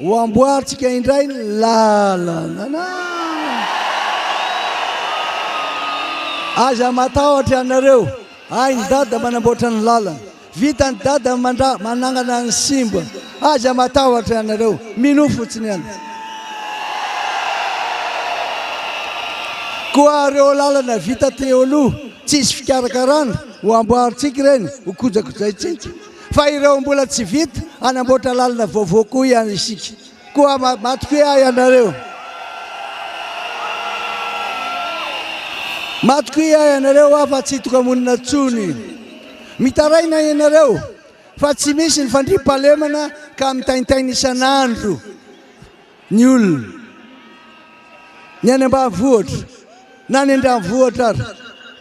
Ho amboarintsika indray ny lalana. Aza matahotra ianareo. Hain'i Dada manamboatra ny lalana. Vitan'i Dada mandra manangana ny simba. Aza matahotra ianareo. Minoa fotsiny ianareo. Koa ireo lalana vita teo aloha, tsisy fikarakarana, ho amboarintsika ireny, ho kojakojaintsika. fa ireo mbola tsy vita hanamboatra lalana vaovao koa ihany isika koa matokia ahy ianareo matokia ahy ianareo aho fa tsy tokamonina tsony mitaraina ianareo fa tsy misy ny fandriam-palemana ka mitaintaina isan'andro Ny olona, ny any ambanivohitra na ny an-dranivohitra ary,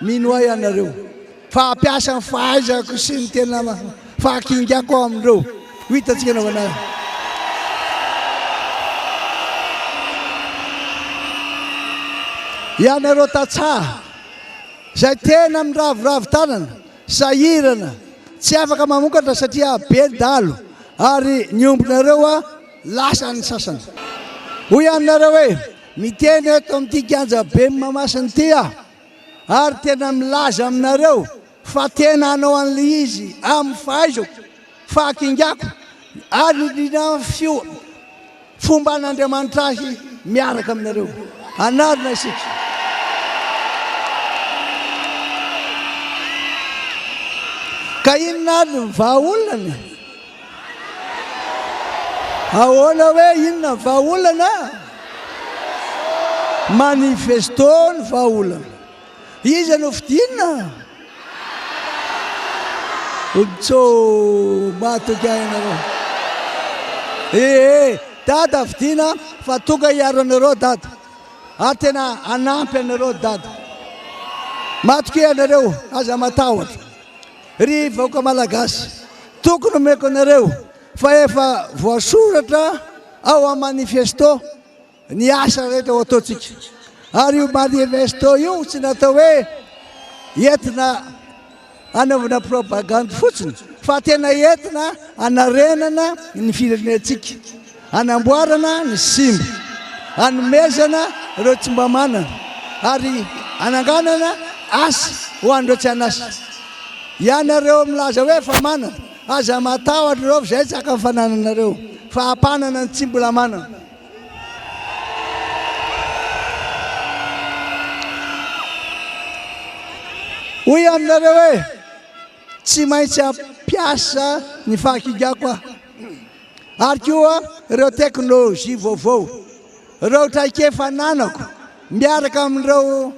mino ahy ianareo fa hampiasa ny fahaizako sy ny tena fahakingako aho amin'ireo ho hitantsika anaovana azy. Ianareo tantsaha izay tena miraviravy tanana, sahirana, tsy afaka mamokatra satria be ny dahalo ary ny ombinareo a! Lasa ny sasany. Hoy aho aminareo hoe, Miteny eto amin'ity kianja ben'ny Mahamasina ity aho, ary tena milaza aminareo fa tena hanao an'ilay izy amin'ny fahaizako, fahakingako, ary indrindra amin'ny fomban'Andriamanitra ahy miaraka aminareo. Hanarina isika. Ka inona ary ny vahaolana? Ahoana hoe inona ny vahaolana? Manifesto ny vahaolana. Iza no fidinina? Ontso, matoky ahy ianareo. Ee, dada fidina fa tonga hiaro anareo dada. Ary tena hanampy anareo dada. Matoky ahy ianareo, aza matahotra. Ry vahoaka Malagasy, tokony omeko anareo fa efa voasoratra ao amin'ny manifesto ny asa rehetra ho ataontsika. Ary io manifesto io tsy natao hoe entina anaovana propagandy fotsiny fa tena entina anarenana ny firenentsika. Hanamboarana ny simba, hanomezana ireo tsy mba manana ary hananganana asa ho an'ireo tsy an'asa. Ianareo milaza hoe efa manana, aza matahotra ireo fizetsaka ny fanananareo fa hampanana ny tsy mbola manana. Hoy aminareo hoe. Tsy maintsy hampiasa ny fahakigako aho, ary koa ireo teknolojia vaovao, ireo traikefa ananako miaraka amin'ireo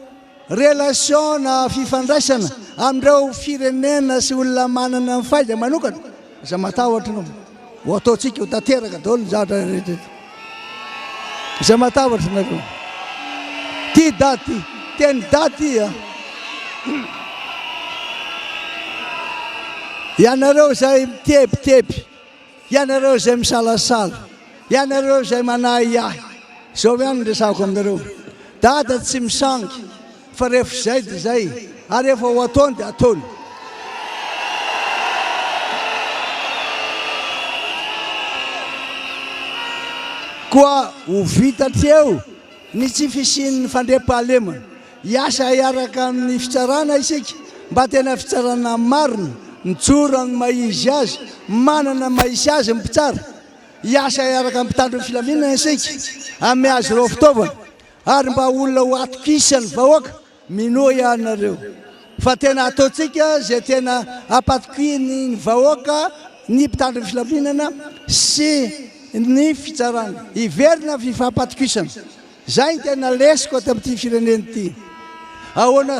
relasiona fifandraisana amin'ireo firenena sy olona manana ny faiza manokana, Izay matahotra no ho ataontsika ho tanteraka daholo ny zavatra rehetra eto. Izay matahotra nareo. Tia daty, tia ny daty a. Ianareo izay mitebiteby, ianareo izay misalasala, ianareo izay manahiahy, izao ihany ny resako aminareo. Dada tsy misangy. Fa rehefa izay dia izay, ary rehefa ho ataony dia ataony. Koa ho vita hatreo ny tsy fisian'ny fandriampahalemana. Hiasa hiaraka amin'ny fitsarana isika mba tena fitsarana marina, mijoro amin'ny maha-izy azy, manana ny maha-izy azy ny mpitsara. Hiasa hiaraka amin'ny mpitandro ny filaminana isika, hamehy azy ireo fitaovana. ary mba olona ho atokisan'ny vahoaka minoa ihany nareo fa tena ataontsika zay tena ampatokiany ny vahoaka ny mpitandro ny filaminana sy ny fitsarana hiverina fifampatokisana zay ny tena lesiko ato amin'ity firenena ity ahoana